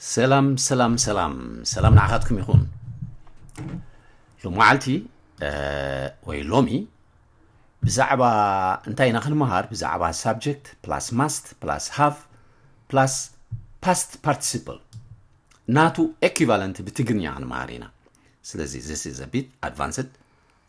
ሰላም ሰላም ሰላም ሰላም ንዓኻትኩም ይኹን ሎመዓልቲ ወይ ሎሚ ብዛዕባ እንታይ ኢና ክንመሃር ብዛዕባ ሳብጀክት ፕላስ ማስት ፕላስ ሃቭ ፕላስ ፓስት ፓርቲሲፕል ናቱ ኤኪቫለንት ብትግርኛ ክንመሃር ኢና ስለዚ ዚስ ኢዝ ቢት ኣድቫንስድ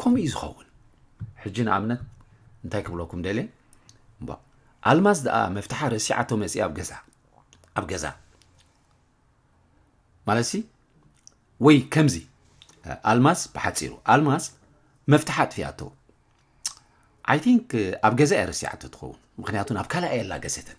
ከምኡ እዩ ዝኸውን ሕጂ ንኣብነት እንታይ ክብለኩም ደልየ እምባ ኣልማዝ ደኣ መፍትሓ ረሲዓቶ መፅእ ኣብ ገዛ ኣብ ገዛ ማለትሲ ወይ ከምዚ ኣልማዝ ብሓፂሩ ኣልማዝ መፍትሓ ኣጥፊኣቶ ኣይ ቲንክ ኣብ ገዛ እያ ረሲዓቶ ትኸውን ምክንያቱ ናብ ካልኣ የላ ገሰተን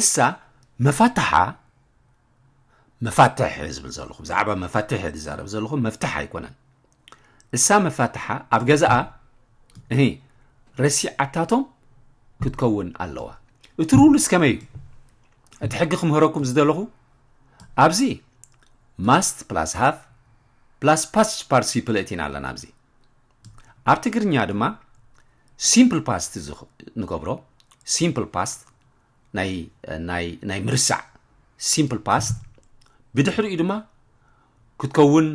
እሳ መፋታሓ መፋትሕ እየ ዝብል ዘለኹ ብዛዕባ መፋትሕ እየ ዝዛረብ ዘለኹ መፍትሕ ኣይኮነን እሳ መፋትሓ ኣብ ገዛኣ እህ ረሲዓታቶም ክትከውን ኣለዋ እቲ ሩልስ ከመይ እዩ እቲ ሕጊ ክምህረኩም ዝደለኹ ኣብዚ ማስት ፕላስ ሃፍ ፕላስ ፓስ ፓርቲሲፕል እቲና ኣለና ኣብዚ ኣብ ትግርኛ ድማ ሲምፕል ፓስት ንገብሮ ሲምፕል ፓስት ናይ ምርሳዕ ሲምፕል ፓስት ብድሕሪኡ ድማ ክትከውን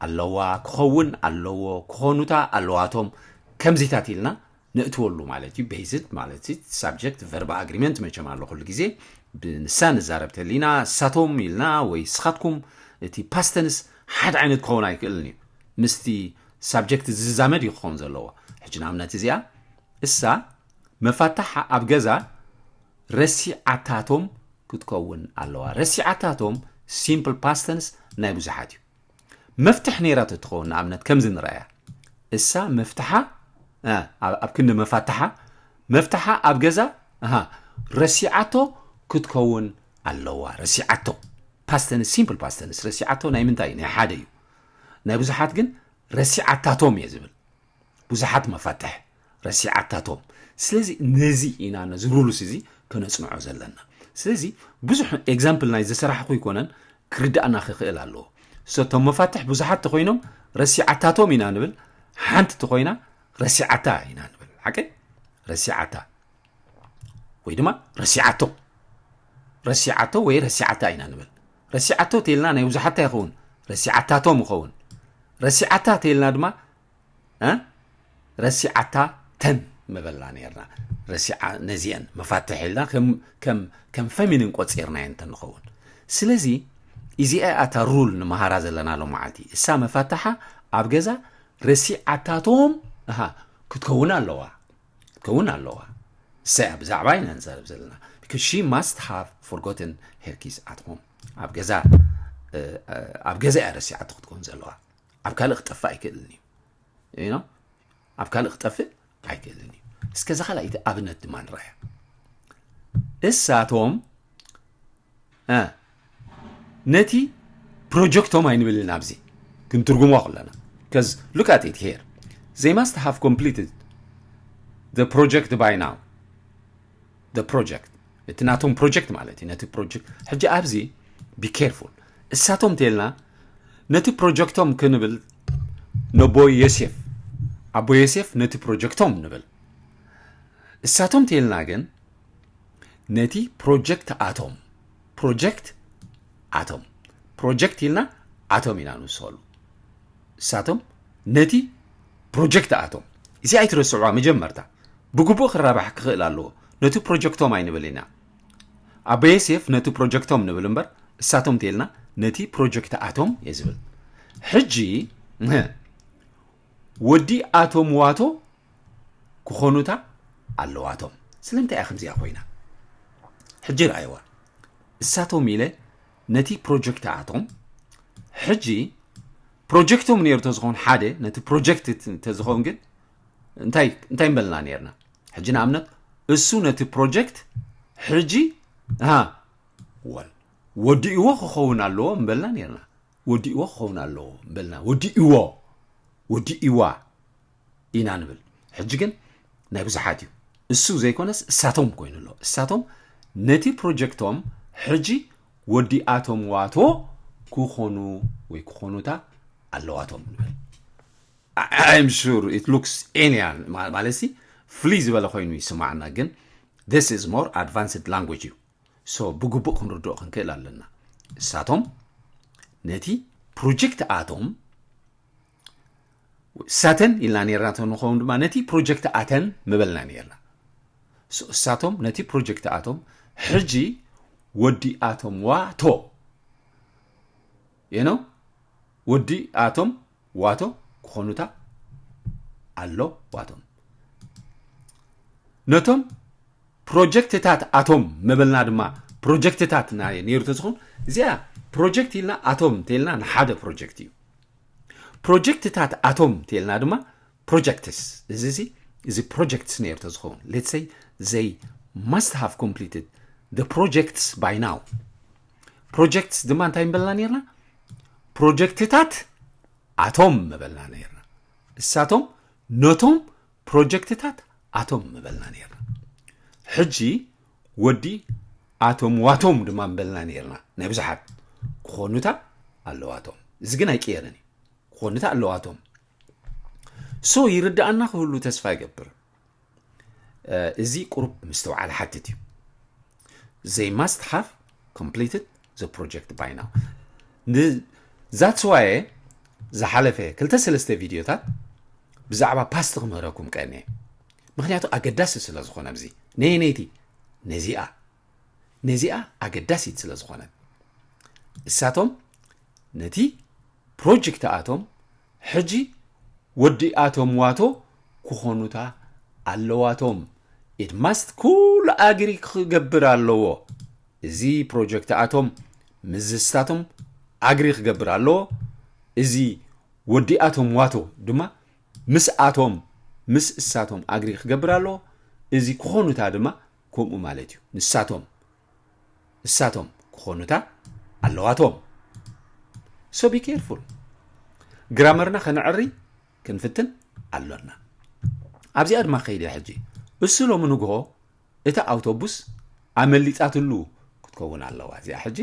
ኣለዋ ክኸውን ኣለዎ ክኾኑታ ኣለዋቶም ከምዚታት ኢልና ነእትወሉ ማለት እዩ ቤዝድ ማለት እዩ ሳብጀክት ቨርባ ኣግሪመንት መቸም ኣሎ ኩሉ ግዜ ብንሳ ንዛረብ ተሊና እሳቶም ኢልና ወይ ስኻትኩም እቲ ፓስተንስ ሓደ ዓይነት ክኸውን ኣይክእልን እዩ ምስቲ ሳብጀክት ዝዛመድ እዩ ክኸውን ዘለዎ። ሕጂ ንኣብነት እዚኣ እሳ መፋታሓ ኣብ ገዛ ረሲዓታቶም ክትከውን ኣለዋ። ረሲዓታቶም ሲምፕል ፓስተንስ ናይ ብዙሓት እዩ። መፍትሕ ነይራ ተትኸውን ንኣብነት ከምዚ ንረኣያ እሳ መፍትሓ ኣብ ክንዲ መፋትሓ መፍትሓ ኣብ ገዛ ረሲዓቶ ክትከውን ኣለዋ። ረሲዓቶ ፓስተንስ ሲምፕል ፓስተንስ ረሲዓቶ ናይ ምንታይ እዩ ናይ ሓደ እዩ። ናይ ብዙሓት ግን ረሲዓታቶም እየ ዝብል ብዙሓት መፋትሕ ረሲዓታቶም ስለዚ ነዚ ኢና ነዚ ሩሉስ እዚ ከነፅንዖ ዘለና ስለዚ ብዙሕ ኤግዛምፕል ናይ ዘሰራሕኹ ይኮነን ክርዳእና ክኽእል ኣለዎ ሰቶም መፋትሕ ብዙሓት ተኮይኖም ረሲዓታቶም ኢና ንብል ሓንቲ ተኮይና ረሲዓታ ኢና ንብል ሓቂ ረሲዓታ ወይ ድማ ረሲዓቶ ረሲዓቶ ወይ ረሲዓታ ኢና ንብል ረሲዓቶ ተይልና ናይ ውዙሓታ ይኸውን ረሲዓታቶም ይኸውን ረሲዓታ ተይልና ድማ ረሲዓታ ተን ምበልና ነርና ረሲዓ ነዚአን መፋትሕ ኢልና ከም ፈሚኒን ቆፂርናየን እንተንኸውን ስለዚ እዚኣ ኣታ ሩል ንመሃራ ዘለና ሎ መዓልቲ እሳ መፋትሓ ኣብ ገዛ ረሲዓታቶም ክትከውን ኣለዋ ክትከውን ኣለዋ ሰያ ብዛዕባ ኢና ንዛረብ ዘለና because she must have forgotten her keys at home ኣብ ገዛ ኣብ ገዛ እያ ረሲዓቶ ክትከውን ዘለዋ ኣብ ካልእ ክጠፍእ ኣይክእልን እዩ ኖ ኣብ ካልእ ክጠፍእ ኣይክእልን እዩ እስከ እዚ ካልኣይቲ ኣብነት ድማ ንረኣያ እሳቶም ነቲ ፕሮጀክቶም ኣይንብልን ኣብዚ ክንትርጉሞ ከለና ከዝ ሉክ ኣት ኢት ሄር ዘይ ማስት ሃቭ ኮምፕሊትድ ዘ ፕሮጀክት ባይ ናው ዘ ፕሮጀክት እቲ ናቶም ፕሮጀክት ማለት እዩ ነቲ ፕሮጀክት ሕጂ ኣብዚ ቢኬርፉል እሳቶም እንተልና ነቲ ፕሮጀክቶም ክንብል ነቦ ዮሴፍ ኣቦ ዮሴፍ ነቲ ፕሮጀክቶም ንብል እሳቶም እንተልና ግን ነቲ ፕሮጀክት ኣቶም ፕሮጀክት ኣቶም ፕሮጀክት ኢልና ኣቶም ኢና ንውስኸሉ እሳቶም ነቲ ፕሮጀክት ኣቶም እዚ ኣይትረስዕዋ መጀመርታ ብግቡእ ክራባሕ ክኽእል ኣለዎ ነቲ ፕሮጀክቶም ኣይንብል ኢና ኣቦ ዮሴፍ ነቲ ፕሮጀክቶም ንብል እምበር እሳቶም እንተይልና ነቲ ፕሮጀክት ኣቶም እየ ዝብል ሕጂ ወዲ ኣቶም ዋቶ ክኾኑታ ኣለዋቶም ስለምንታይ እያ ከምዚኣ ኮይና ሕጂ ረኣይዋ እሳቶም ኢለ ነቲ ፕሮጀክት ኣቶም ሕጂ ፕሮጀክቶም ነይሩ ተዝኸውን ሓደ ነቲ ፕሮጀክት ተዝኸውን ግን እንታይ እንታይ ምበልና ነርና ሕጂ ንኣብነት እሱ ነቲ ፕሮጀክት ሕጂ ወል ወዲእዎ ክኸውን ኣለዎ ምበልና ነርና ወዲእዎ ክኸውን ኣለዎ በልና ወዲእዎ ወዲእዋ ኢና ንብል ሕጂ ግን ናይ ብዙሓት እዩ እሱ ዘይኮነስ እሳቶም ኮይኑ ኣሎ እሳቶም ነቲ ፕሮጀክቶም ሕጂ ወዲኣቶም ዋቶ ክኾኑ ወይ ክኾኑታ ኣለዋቶም ንብል ኣይም ሹር ኢት ሉክስ ኤልያን ማለት ሲ ፍልይ ዝበለ ኮይኑ ይስማዕና ግን ስ ኢዝ ሞር ኣድቫንስድ ላንጉጅ እዩ so ብግቡእ ክንርድኦ ክንክእል ኣለና እሳቶም ነቲ ፕሮጀክት ኣቶም እሳተን ኢልና ነርና ንኸውን ድማ ነቲ ፕሮጀክት ኣተን ምበልና ነርና እሳቶም ነቲ ፕሮጀክት ኣቶም ሕጂ ወዲ ኣቶም ዋቶ የነው ወዲ ኣቶም ዋቶ ክኾኑታ ኣሎ ዋቶም ነቶም ፕሮጀክትታት ኣቶም ምብልና ድማ ፕሮጀክትታት ነይሩ ተዝኾን እዚኣ ፕሮጀክት ኢልና ኣቶም እንተልና ንሓደ ፕሮጀክት እዩ ፕሮጀክትታት ኣቶም እንተልና ድማ ፕሮጀክትስ እዚ እዚ እዚ ፕሮጀክትስ ነይሩ ተዝኸውን ሌትሰይ ዘይ ማስት ሃቭ ኮምፕሊትድ ፕሮጀክትስ ባይ ናው ፕሮጀክትስ ድማ እንታይ ምበልና ነርና ፕሮጀክትታት ኣቶም ምበልና ነርና እሳቶም ነቶም ፕሮጀክትታት ኣቶም ምበልና ነርና ሕጂ ወዲ ኣቶም ዋቶም ድማ ምበልና ነርና ናይ ብዙሓት ክኾኑታ ኣለዋቶም እዚ ግን ኣይቅየርን እዩ ክኾኑታ ኣለዋቶም ሶ ይርዳኣና ክህሉ ተስፋ ይገብር እዚ ቁሩብ ምስትውዓል ሓትት እዩ ዘይ ማስት ሃቭ ኮምፕሊትድ ዘ ፕሮጀክት ባይ ናው ንዛትስዋየ ዝሓለፈ ክልተ ሰለስተ ቪድዮታት ብዛዕባ ፓስት ክምህረኩም ቀኒ ምክንያቱ ኣገዳሲ ስለ ዝኾነ እዚ ነየነይቲ ነዚኣ ነዚኣ ኣገዳሲት ስለ ዝኾነ እሳቶም ነቲ ፕሮጀክት ኣቶም ሕጂ ወዲኣቶም ዋቶ ክኾኑታ ኣለዋቶም ኢት ማስት ኩሉ ኣግሪ ክገብር ኣለዎ እዚ ፕሮጀክት ኣቶም ምዝስታቶም ኣግሪ ክገብር ኣለዎ እዚ ወዲኣቶም ዋቶ ድማ ምስ ኣቶም ምስ እሳቶም ኣግሪ ክገብር ኣለዎ እዚ ክኾኑታ ድማ ከምኡ ማለት እዩ ንሳቶም እሳቶም ክኾኑታ ኣለዋቶም so be careful ግራመርና ከነዕሪ ክንፍትን ኣሎና ኣብዚኣ ድማ ከይድ እያ ሕጂ እሱ ሎሚ ንግሆ እታ ኣውቶቡስ ኣመሊጣትሉ ክትከውን ኣለዋ እዚኣ ሕጂ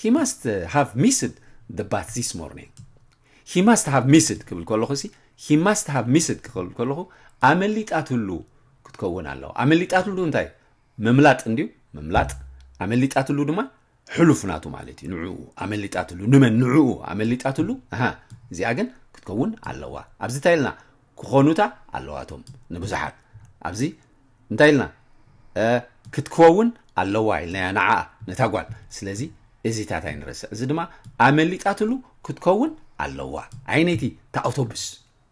ሂ ማስት ሃቭ ሚስድ ደ ባስ ዚስ ሞርኒንግ ሂ ማስት ሃቭ ሚስድ ክብል ከለኹ ሲ ሂ ማስት ሃቭ ሚስድ ክብል ከለኹ ኣመሊጣትሉ ክትከውን ኣለዋ ኣመሊጣትሉ እንታይ ምምላጥ እንድዩ ምምላጥ ኣመሊጣትሉ ድማ ሕሉፍ ናቱ ማለት እዩ ንዕኡ ኣመሊጣትሉ ንመን ንዕኡ ኣመሊጣትሉ ኣሃ እዚኣ ግን ክትከውን ኣለዋ ኣብዚ እንታይ ኢልና ክኾኑታ ኣለዋቶም ንብዙሓት ኣብዚ እንታይ ኢልና ክትከውን ኣለዋ ኢልናያ ንዓ ነታ ጓል ስለዚ እዚታት ኣይንረስዕ እዚ ድማ ኣመሊጣትሉ ክትከውን ኣለዋ ዓይነይቲ ተኣውቶብስ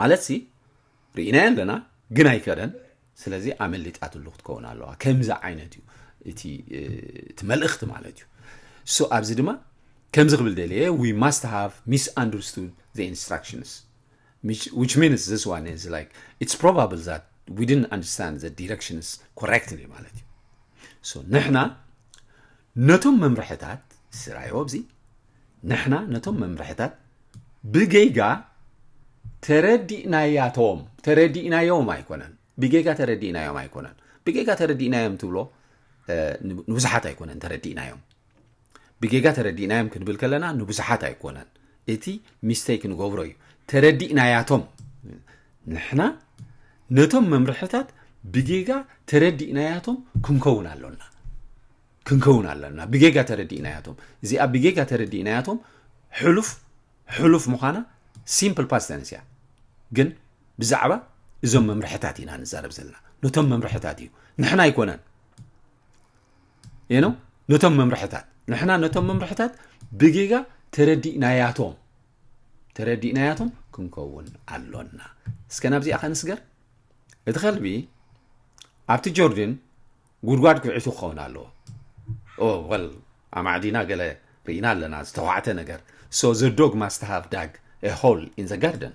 ማለት ሲ ርኢናዮ ኣለና ግን ኣይከደን ስለዚ ኣመሊጣትሉ ክትከውን ኣለዋ ከምዚ ዓይነት እዩ እቲ እቲ መልእኽቲ ማለት እዩ እሱ ኣብዚ ድማ ከምዚ ክብል ደልየ ዊ ማስት ሃቭ ሚስ ኣንደርስቱድ ዘ ኢንስትራክሽንስ ዊች ሚንስ ዚስ ዋን ኢዝ ላይክ ኢትስ ፕሮባብል ዛት ዊ ድን ኣንደርስታንድ ዘ ዲረክሽንስ ኮሬክትሊ ማለት እዩ ንሕና ነቶም መምርሕታት ስራዮ ኣብዚ ንሕና ነቶም መምርሕታት ብጌጋ ተረዲእናያቶም ተረዲእናዮም ኣይኮነን ብጌጋ ተረዲእናዮም ኣይኮነን ብጌጋ ተረዲእናዮም ትብሎ ንብዙሓት ኣይኮነን ተረዲእናዮም ብጌጋ ተረዲእናዮም ክንብል ከለና ንብዙሓት ኣይኮነን እቲ ሚስተይክ ንገብሮ እዩ ተረዲእናያቶም ንሕና ነቶም መምርሕታት ብጌጋ ተረዲእናያቶም ክንከውን ኣሎና ክንከውን ኣለና ብጌጋ ተረዲእናያቶም እዚኣ ብጌጋ ተረዲእናያቶም ሕሉፍ ሕሉፍ ምዃና ሲምፕል ፓስተንስ እያ ግን ብዛዕባ እዞም መምርሕታት ኢና ንዛረብ ዘለና ነቶም መምርሕታት እዩ ንሕና ኣይኮነን ዩ ነው ነቶም መምርሕታት ንሕና ነቶም መምርሕታት ብጌጋ ተረዲእናያቶም ተረዲእናያቶም ክንከውን ኣሎና እስከ ናብዚኣ ከንስገር እቲ ከልቢ ኣብቲ ጆርድን ጉድጓድ ኩዒቱ ክኸውን ኣለዎ ወል ኣማዕዲና ገለ ርኢና ኣለና ዝተዋዕተ ነገር ሶ ዘዶግ ማስተሃብ ዳግ ሆል ኢን ዘ ጋርደን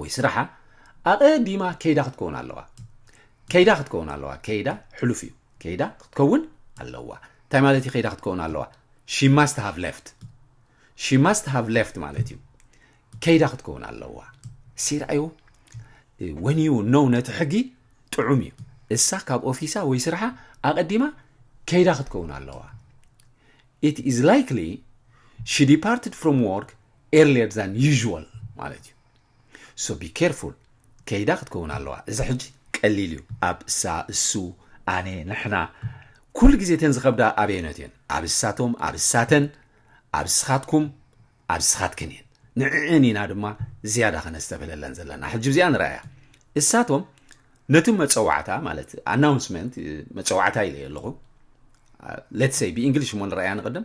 ወይ ስራሓ ኣቐዲማ ከይዳ ክትከውን ኣለዋ ከይዳ ክትከውን ኣለዋ ከይዳ ሕሉፍ እዩ ከይዳ ክትከውን ኣለዋ እንታይ ማለት እዩ ከይዳ ክትከውን ኣለዋ ሺ ማስት ሃቭ ሌፍት ሺ ማስት ሃቭ ሌፍት ማለት እዩ ከይዳ ክትከውን ኣለዋ ሲርኣዩ ወን ዩ ነው ነቲ ሕጊ ጥዑም እዩ እሳ ካብ ኦፊሳ ወይ ስርሓ ኣቐዲማ ከይዳ ክትከውን ኣለዋ ኢት ኢዝ ላይክሊ ሺ ዲፓርትድ ፍሮም ወርክ ኤርሊየር ዛን ዩዥዋል ማለት እዩ ሶ ቢ ኬርፉል ከይዳ ክትከውን ኣለዋ እዚ ሕጂ ቀሊል እዩ ኣብ እሳ እሱ ኣነ ንሕና ኩሉ ግዜ እተን ዝኸብዳ ኣበየኖት እየን ኣብ እሳቶም ኣብ እሳተን ኣብ ስኻትኩም ኣብ ስኻትክን እየን ንዕዕን ኢና ድማ ዝያዳ ከነስተብህለለን ዘለና ሕጂ እዚኣ ንረኣያ እሳቶም ነቲ መፀዋዕታ ማለት ኣናውንስመንት መፀዋዕታ ኢለ ኣለኹ ሌትሰይ ብእንግሊሽ እሞ ንረኣያ ንቕድም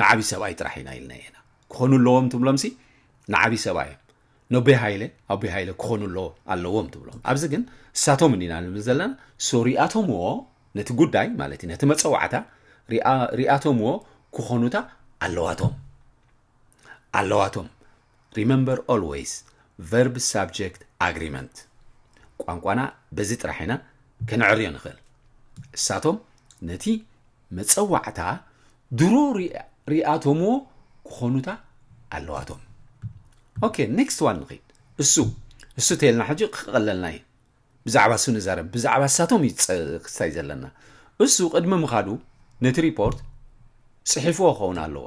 ንዓቢ ሰብኣይ ጥራሕ ኢና ኢልና ኢና ክኾኑ ኣለዎም ትብሎምሲ ንዓቢ ሰብኣይ እዮም ነቦይ ሃይለ ኣቦይ ሃይለ ክኾኑ ኣለዎ ኣለዎም ትብሎም ኣብዚ ግን እሳቶም እንዲና ንብል ዘለና ሶ ሪኣቶምዎ ነቲ ጉዳይ ማለት እዩ ነቲ መፀዋዕታ ሪኣቶምዎ ክኾኑታ ኣለዋቶም ኣለዋቶም ሪመምበር ኦልወይስ ቨርብ ሳብጀክት ኣግሪመንት ቋንቋና በዚ ጥራሕ ኢና ከነዕርዮ ንኽእል እሳቶም ነቲ መጸዋዕታ ድሮ ሪኣቶምዎ ክኾኑታ ኣለዋቶም ኦኬ ኔክስት ዋን ንኺድ እሱ እሱ ተልና ሕጂ ክቐለልና እዩ ብዛዕባ እሱ ንዛረብ ብዛዕባ እሳቶም እዩ ክስታይ ዘለና እሱ ቅድሚ ምኻዱ ነቲ ሪፖርት ጽሒፍዎ ክኸውን ኣለዎ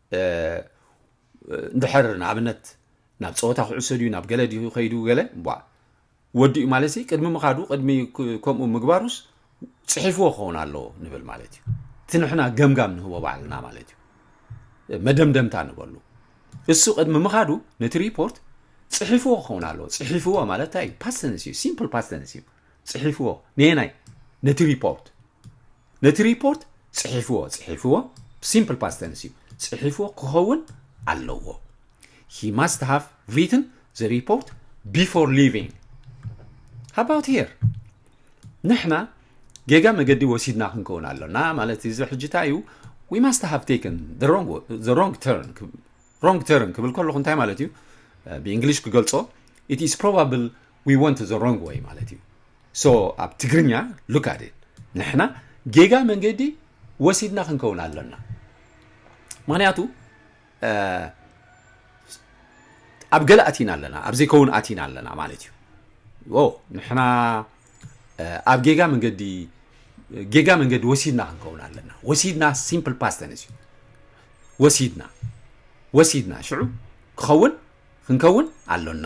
እንድሕር ንኣብነት ናብ ፀወታ ክዕሶ ድዩ ናብ ገለ ድዩ ከይዱ ገለ ቧ ወዲኡ ማለት ሲ ቅድሚ ምኻዱ ቅድሚ ከምኡ ምግባሩስ ፅሒፍዎ ክኸውን ኣለዎ ንብል ማለት እዩ እቲ ንሕና ገምጋም ንህቦ ባዕልና ማለት እዩ መደምደምታ ንበሉ እሱ ቅድሚ ምኻዱ ነቲ ሪፖርት ፅሒፍዎ ክኸውን ኣለዎ ፅሒፍዎ ማለት እንታይ እዩ ፓስተንስ እዩ ሲምፕል ፓስተንስ እዩ ጽሒፍዎ ነየናይ ነቲ ሪፖርት ነቲ ሪፖርት ጽሒፍዎ ጽሒፍዎ ሲምፕል ፓስተንስ እዩ ጽሒፍዎ ክኸውን ኣለዎ ሂ ማስት ሃቭ ሪትን ዘ ሪፖርት ቢፎር ሊቪንግ ሃባውት ሄር ንሕና ጌጋ መገዲ ወሲድና ክንከውን ኣሎና ማለት እዚ ሕጅታ እዩ ዊ ማስት ሃቭ ቴክን ሮንግ ተርን ሮንግ ተርን ክብል ከለኹ እንታይ ማለት እዩ ብእንግሊሽ ክገልጾ ኢት ኢስ ፕሮባብል we went the wrong way ማለት እዩ so ኣብ ትግርኛ look at it ንሕና ጌጋ መንገዲ ወሲድና ክንከውን ኣለና ምክንያቱ ኣብ ገለ ኣቲና ኣለና ኣብ ዘይከውን ኣቲና ኣለና ማለት እዩ ንሕና ኣብ ጌጋ መንገዲ ጌጋ መንገዲ ወሲድና ክንከውን ኣለና ወሲድና ሲምፕል ፓስተንስ እዩ ወሲድና ወሲድና ሽዑ ክኸውን ክንከውን ኣሎና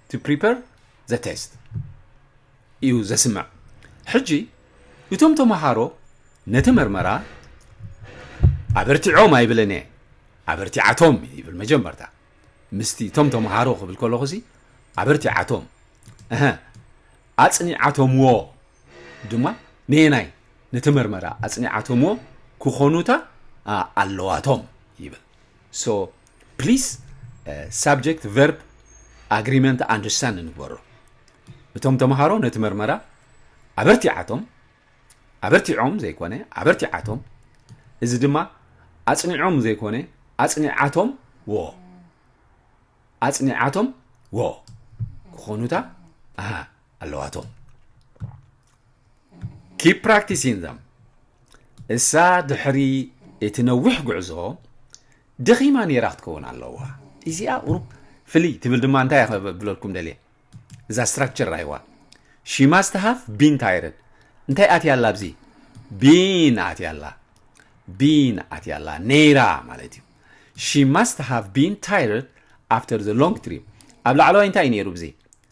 to prepare the test እዩ ዘስምዕ ሕጂ እቶም ተምሃሮ ነቲ መርመራ ኣበርቲዖም ኣይብለን እየ ኣበርቲዓቶም ይብል መጀመርታ ምስቲ እቶም ተምሃሮ ክብል ከለኹ ሲ ኣበርቲዓቶም እሀ ኣፅኒዓቶምዎ ድማ ነየናይ ነቲ መርመራ ኣፅኒዓቶምዎ ክኾኑታ ኣለዋቶም ይብል ሶ ፕሊስ ሳብጀክት ቨርብ ኣግሪመንት ኣንደርስታንድ ንግበሮ እቶም ተምሃሮ ነቲ መርመራ ኣበርቲዓቶም ኣበርቲዖም ዘይኮነ ኣበርቲዓቶም እዚ ድማ ኣጽኒዖም ዘይኮነ ኣጽኒዓቶም ወ ኣጽኒዓቶም ወ ክኾኑታ ኣሃ ኣለዋቶም ኪፕ ፕራክቲሲን ዘም እሳ ድሕሪ እቲ ነዊሕ ጉዕዞ ደኺማ ኔራ ክትከውን ኣለዋ ኢዚኣ ቁሩብ ፍልይ ትብል ድማ እንታይ ከብለልኩም ደልየ እዛ ስትራክቸር ራይዋ ሺማስት ሃፍ ቢን ታይረድ እንታይ ኣትያ ኣላ ኣብዚ ቢን ኣትያ ኣላ ቢን ኣትያ ኣላ ነይራ ማለት እዩ ሺ ማስት ሃፍ ቢን ታይረድ ኣፍተር ዘ ሎንግ ትሪፕ ኣብ ላዕለዋይ እንታይ እዩ ነይሩ ብዚ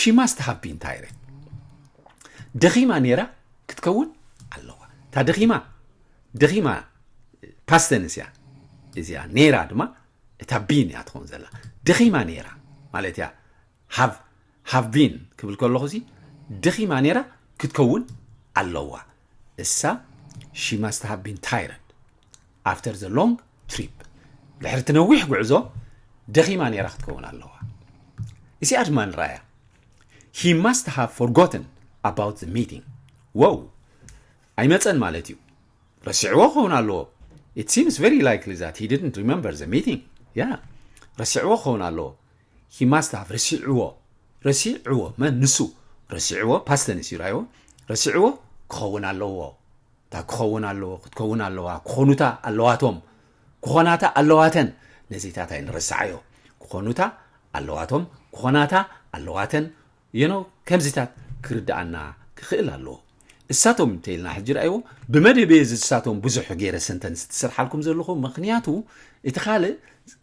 ሺ ማስት ሃቭ ቢን ታይርድ ደኺማ ነይራ ክትከውን ኣለዋ እታ ደኺማ ደኺማ ፓስተንስ እያ እዚኣ ነይራ ድማ እታ ቢን እያ ትኸውን ዘላ ደኺማ ነይራ ማለት እያ ሃቭ ሃቭ ቢን ክብል ከለኹ እዚ ደኺማ ነይራ ክትከውን ኣለዋ እሳ ሺ መስት ሃቭ ቢን ታይረድ ኣፍተር ዘ ሎንግ ትሪፕ ድሕሪ እቲ ነዊሕ ጉዕዞ ደኺማ ነይራ ክትከውን ኣለዋ እዚኣ ድማ ንረኣያ ሂ መስት ሃቭ ፎርጎትን ኣባውት ዘ ሚቲንግ ወው ኣይመፀን ማለት እዩ ረሲዕዎ ክኸውን ኣለዎ ኢት ሲምስ ቨሪ ላይክሊ ዛት ሂ ዲድንት ሪመምበር ዘ ሚቲንግ ያ ረሲዕዎ ክኸውን ኣለዎ ሂ ማስት ሃቭ ረሲዕዎ ረሲዕዎ መን ንሱ ረሲዕዎ ፓስት ተንስ እዩ ራይዎ ረሲዕዎ ክኸውን ኣለዎ እታ ክኸውን ኣለዎ ክትከውን ኣለዋ ክኾኑታ ኣለዋቶም ክኾናታ ኣለዋተን ነዚታት ኣይንረስዓዮ ክኾኑታ ኣለዋቶም ክኾናታ ኣለዋተን የኖ ከምዚታት ክርድኣና ክኽእል ኣለዎ እሳቶም እንተኢልና ሕጂ ርኣይዎ ብመደበየ ዝሳቶም ብዙሕ ገይረ ሰንተንስ ትስርሓልኩም ዘለኹ ምክንያቱ እቲ ካልእ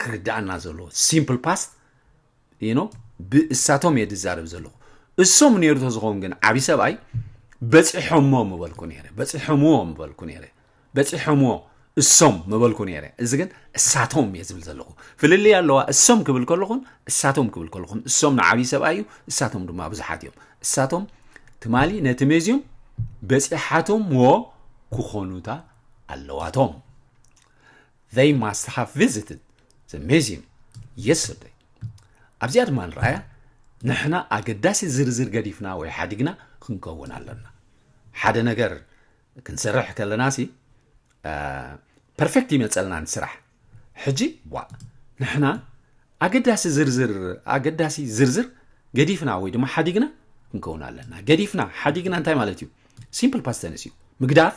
ክርድኣና ዘለዎ ሲምፕል ፓስት ኖ ብእሳቶም እየ ዝዛረብ ዘለኹ እሶም ነይሩ ተዝኸውን ግን ዓብዪ ሰብኣይ በፂሖሞ ምበልኩ ነይረ በፂሖምዎ ምበልኩ ነይረ በፂሖምዎ እሶም ምበልኩ ነይረ እዚ ግን እሳቶም እየ ዝብል ዘለኹ ፍልልይ ኣለዋ እሶም ክብል ከለኹን እሳቶም ክብል ከለኹን እሶም ንዓብዪ ሰብኣይ እዩ እሳቶም ድማ ብዙሓት እዮም እሳቶም ትማሊ ነቲ ሜዝዮም በፂሓቶምዎ ክኾኑታ ኣለዋቶም They must have visited the museum yesterday ኣብዚኣ ድማ ንረኣያ ንሕና ኣገዳሲ ዝርዝር ገዲፍና ወይ ሓዲግና ክንከውን ኣለና ሓደ ነገር ክንሰርሕ ከለና ሲ ፐርፌክት ይመፀልና ንስራሕ ሕጂ ዋ ንሕና ኣገዳሲ ዝርዝር ኣገዳሲ ዝርዝር ገዲፍና ወይ ድማ ሓዲግና ክንከውን ኣለና ገዲፍና ሓዲግና እንታይ ማለት እዩ ሲምፕል ፓስተንስ እዩ ምግዳፍ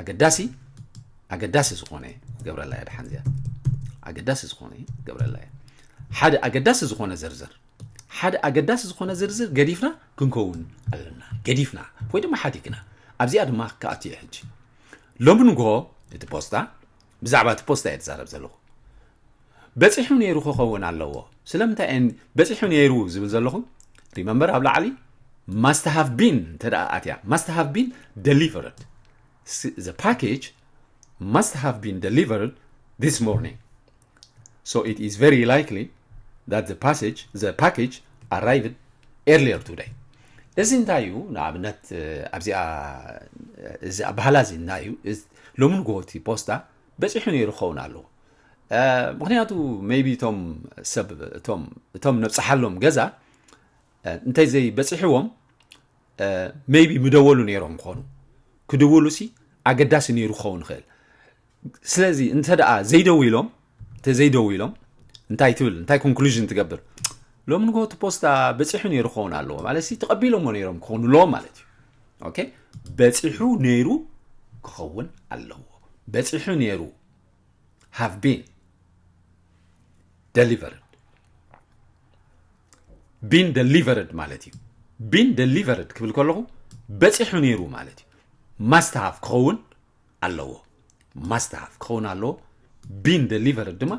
ኣገዳሲ ኣገዳሲ ዝኾነ ገብረላ እያ ድሓን እዚኣ ኣገዳሲ ዝኾነ ገብረላ እያ ሓደ ኣገዳሲ ዝኾነ ዝርዝር ሓደ ኣገዳሲ ዝኾነ ዝርዝር ገዲፍና ክንከውን ኣለና ገዲፍና ወይ ድማ ሓዲግና ኣብዚኣ ድማ ክኣት እየ ሕጂ ሎሚ ንግሆ እቲ ፖስታ ብዛዕባ እቲ ፖስታ እየ ትዛረብ ዘለኹ በጺሑ ነይሩ ክኸውን ኣለዎ ስለምንታይ እየን በጺሑ ነይሩ ዝብል ዘለኹ ሪመምበር ኣብ ላዕሊ ማስት ሃቭ ቢን እንተ ኣትያ ማስት ሃቭ ቢን ደሊቨርድ ዘ ፓኬጅ ማስት ሃቭ ቢን ደሊቨርድ ዚስ ሞርኒንግ So it is very likely that the passage, the package arrived earlier today. እዚ እንታይ እዩ ንኣብነት ኣብዚኣ እዚ ኣባህላ እዚ እንታይ እዩ ሎሚ ንግሆቲ ፖስታ በፂሑ ነይሩ ክኸውን ኣለዎ ምክንያቱ ሜይቢ እቶም ሰብ እቶም እቶም ነብፅሓሎም ገዛ እንታይ ዘይበፂሕዎም ሜይቢ ምደወሉ ነይሮም ክኾኑ ክድውሉ ሲ ኣገዳሲ ነይሩ ክኸውን ይኽእል ስለዚ እንተ ደኣ ዘይደው ኢሎም እንተ ዘይደው ኢሎም እንታይ ትብል እንታይ ኮንክሉዥን ትገብር ሎም ንጎ እቲ ፖስታ በፂሑ ነይሩ ክኸውን ኣለዎ ማለት ሲ ተቐቢሎሞ ነይሮም ክኾኑ ኣለዎም ማለት እዩ ኦኬ በፂሑ ነይሩ ክኸውን ኣለዎ በፂሑ ነይሩ ሃቭ ቢን ደሊቨርድ ቢን ደሊቨርድ ማለት እዩ ቢን ደሊቨርድ ክብል ከለኹ በፂሑ ነይሩ ማለት እዩ ማስተሃፍ ክኸውን ኣለዎ ማስተሃፍ ክኸውን ኣለዎ ቢን ደሊቨርድ ድማ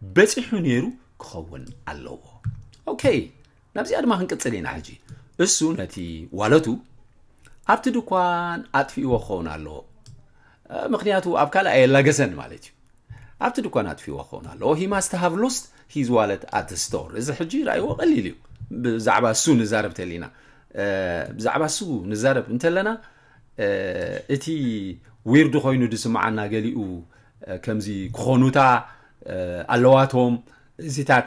በፂሑ ነይሩ ክኸውን ኣለዎ ኦኬ ናብዚኣ ድማ ክንቅጽል ኢና ሕጂ እሱ ነቲ ዋለቱ ኣብቲ ድኳን ኣጥፊእዎ ክኸውን ኣለዎ ምክንያቱ ኣብ ካልእ ኣየላገሰን ማለት እዩ ኣብቲ ድኳን ኣጥፊእዎ ክኸውን ኣለዎ ሂ ማስት ሃቭ ሎስት ሂዝ ዋለት ኣት ስቶር እዚ ሕጂ ራእይዎ ቀሊል እዩ ብዛዕባ እሱ ንዛረብ ተሊና ብዛዕባ እሱ ንዛረብ እንተለና እቲ ዊርድ ኮይኑ ዝስምዓና ገሊኡ ከምዚ ክኾኑታ ኣለዋቶም እዚታት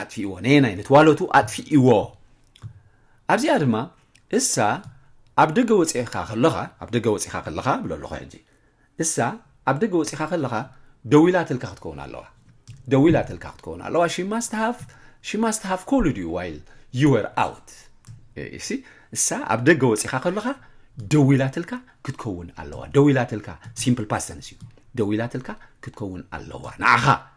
ኣጥፊእዎ ነየናይ ነቲ ዋለቱ ኣጥፊእዎ ኣብዚኣ ድማ እሳ ኣብ ደገ ወፂእካ ከለኻ ኣብ ደገ ወፂኻ ከለኻ ብሎ ኣለኹ ሕጂ እሳ ኣብ ደገ ወፂኻ ከለኻ ደዊላትልካ ክትከውን ኣለዋ ደዊላትልካ ክትከውን ኣለዋ ሽማስትሃፍ ሽማስትሃፍ ኮልድ ዩ ዋይል ዩወር ኣውት እሲ እሳ ኣብ ደገ ወፂኻ ከለኻ ደዊላትልካ ክትከውን ኣለዋ ደዊላትልካ ሲምፕል ፓስተንስ እዩ ደዊላትልካ ክትከውን ኣለዋ ንዓኻ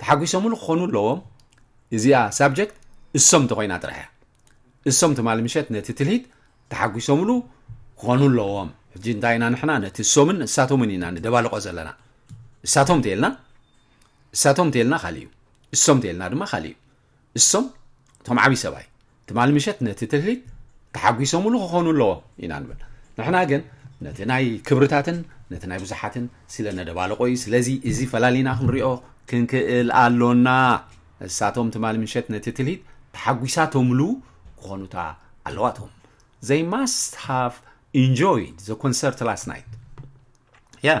ተሓጒሶምሉ ክኾኑ ኣለዎም። እዚኣ ሳብጀክት እሶም እንተኾይና ጥራሕ እያ። እሶም ትማሊ ምሸት ነቲ ትልሂት ተሓጒሶምሉ ክኾኑ ኣለዎም። ሕጂ እንታይ ኢና ንሕና ነቲ እሶምን እሳቶምን ኢና ንደባልቆ ዘለና። እሳቶም እንተይልና እሳቶም እንተይልና ካልእ እዩ። እሶም እንተይልና ድማ ካልእ እዩ። እሶም እቶም ዓብይ ሰብኣይ ትማሊ ምሸት ነቲ ትርሂት ተሓጒሶምሉ ክኾኑ ኣለዎም ኢና ንብል ንሕና ግን ነቲ ናይ ክብርታትን ነቲ ናይ ብዙሓትን ስለ ነደባልቆ እዩ ስለዚ እዚ ፈላሊና ክንሪኦ ክንክእል ኣሎና እሳቶም ትማሊ ምሸት ነቲ ትልሂት ተሓጒሳቶምሉ ክኾኑታ ኣለዋቶም they must have enjoyed the concert last night yeah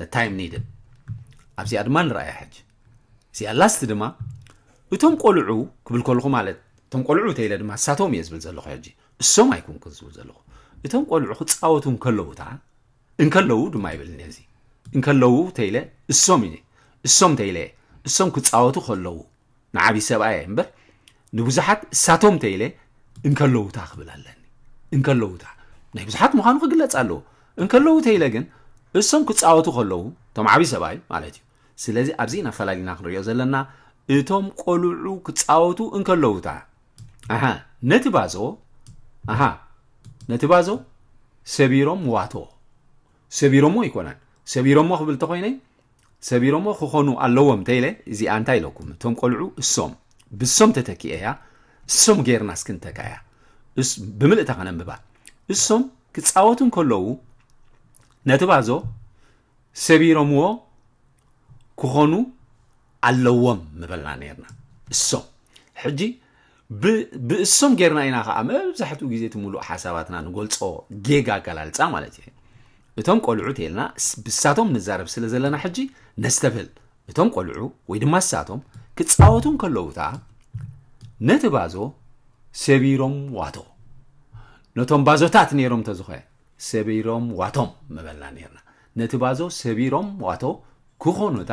the time needed ኣብዚኣ ድማ ንረኣያ ሕጂ እዚኣ ላስት ድማ እቶም ቆልዑ ክብል ከለኹ ማለት እቶም ቆልዑ ተኢለ ድማ እሳቶም እየ ዝብል ዘለኹ ሕጂ እሶም ኣይኩንኩ ዝብል ዘለኹ እቶም ቆልዑ ክፃወቱ እንከለዉ እታ እንከለዉ ድማ ይብልኒ እዚ እንከለዉ ተኢለ እሶም እዩ እሶም ተኢለ እሶም ክፃወቱ ከለዉ ንዓቢ ሰብኣይ እየ እምበር ንብዙሓት እሳቶም ተይለ እንከለውታ ክብል ኣለኒ እንከለውታ ናይ ብዙሓት ምዃኑ ክግለጽ ኣለዎ እንከለዉ ተይለ ግን እሶም ክፃወቱ ከለዉ እቶም ዓብዪ ሰብኣይ ማለት እዩ ስለዚ ኣብዚ ኢና ፈላሊና ክንሪኦ ዘለና እቶም ቆልዑ ክፃወቱ እንከለውታ ኣሃ ነቲ ባዞ ኣሃ ነቲ ባዞ ሰቢሮም ዋቶ ሰቢሮሞ ኣይኮነን ሰቢሮሞ ክብል ተኮይነ ሰቢሮሞ ክኾኑ ኣለዎም ተይለ እዚኣ እንታይ ኢለኩም እቶም ቆልዑ እሶም ብሶም ተተኪኤያ እሶም ጌርና እስኪ እንተካያ ብምልእታ ከነንብባ እሶም ክፃወቱ እንከለዉ ነቲ ባዞ ሰቢሮምዎ ክኾኑ ኣለዎም ምበልና ነርና እሶም ሕጂ ብ ብእሶም ጌርና ኢና ከኣ መብዛሕትኡ ግዜ እቲ ምሉእ ሓሳባትና ንገልጾ ጌጋ ኣገላልጻ ማለት እዩ እቶም ቆልዑ ተልና ብሳቶም ንዛረብ ስለ ዘለና ሕጂ ነስተብህል እቶም ቆልዑ ወይ ድማ ሳቶም ክጻወቱ እንከለዉ እታ ነቲ ባዞ ሰቢሮም ዋቶ ነቶም ባዞታት ነይሮም ተዝኾ ሰቢሮም ዋቶም ምበልና ነርና ነቲ ባዞ ሰቢሮም ዋቶ ክኾኑ እታ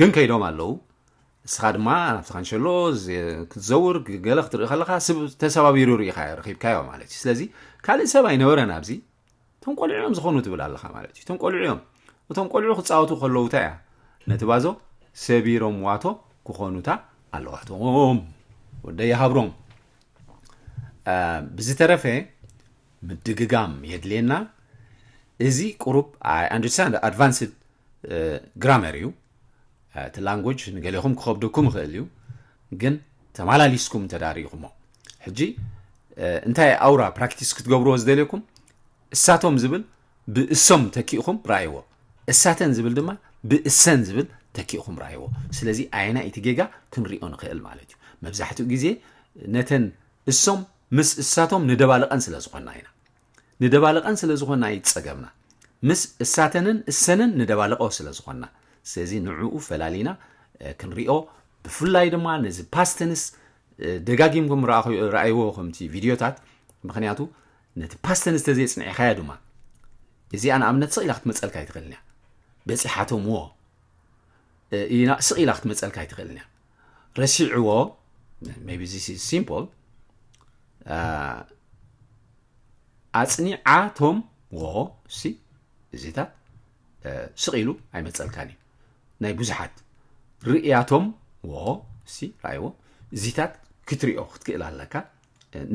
ግን ከይዶም ኣለዉ እስኻ ድማ ናብቲ ካንሸሎ ክትዘውር ገለ ክትርኢ ከለካ ስብ ተሰባቢሩ ርኢኻ ረኪብካዮ ማለት እዩ ስለዚ ካልእ ሰብ ኣይነበረን ኣብዚ እቶም ቆልዑ እዮም ዝኾኑ ትብል ኣለካ ማለት እዩ እቶም ቆልዑ እዮም እቶም ቆልዑ ክፃወቱ ከለዉ እንታይ እያ ነቲ ባዞ ሰቢሮም ዋቶ ክኾኑታ ኣለዋቶም ወደ ይሃብሮም ብዝተረፈ ምድግጋም የድልየና እዚ ቁሩብ ኣይ ኣንደርስታንድ ኣድቫንስድ ግራመር እዩ እቲ ላንጎጅ ንገሌኹም ክኸብደኩም ይኽእል እዩ ግን ተመላሊስኩም እንተዳሪኢኹሞ ሕጂ እንታይ ኣውራ ፕራክቲስ ክትገብርዎ ዝደልየኩም እሳቶም ዝብል ብእሶም ተኪእኹም ራእይዎ እሳተን ዝብል ድማ ብእሰን ዝብል ተኪእኹም ራእይዎ ስለዚ ኣየና እቲ ጌጋ ክንሪኦ ንኽእል ማለት እዩ መብዛሕትኡ ግዜ ነተን እሶም ምስ እሳቶም ንደባልቐን ስለ ዝኾና ኢና። ንደባልቐን ስለ ዝኾና እዩ ጸገምና። ምስ እሳተንን እሰንን ንደባልቐ ስለ ዝኾና። ስለዚ ንዕኡ ፈላሊና ክንሪኦ ብፍላይ ድማ ነዚ ፓስተንስ ደጋጊምኩም ረኣይዎ ከምቲ ቪድዮታት ምክንያቱ ነቲ ፓስተንስ ተዘይጽኒዕኻዮ ድማ እዚኣ ንኣብነት ስቕ ኢላ ክትመፀልካ ኣይትኽእልን እያ በፂሓቶምዎ ስቕ ኢላ ክትመፀልካ ኣይትኽእልን እያ ረሲዕዎ ቢ ሲምል ኣፅኒዓቶም ዎ ሲ እዚታት ስቂሉ ኣይመፀልካን እዩ ናይ ብዙሓት ርእያቶም ዎ ሲ ርኣይዎ እዚታት ክትሪኦ ክትክእል ኣለካ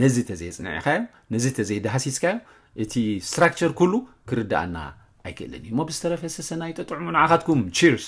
ነዚ ተዘየፅንዕካዮ ነዚ ተዘይዳሃሲስካዮ እቲ ስትራክቸር ኩሉ ክርዳኣና ኣይክእልን እዩ እሞ ብዝተረፈ ሰሰናይ ጠጥዕሙ ንዓኻትኩም ቺርስ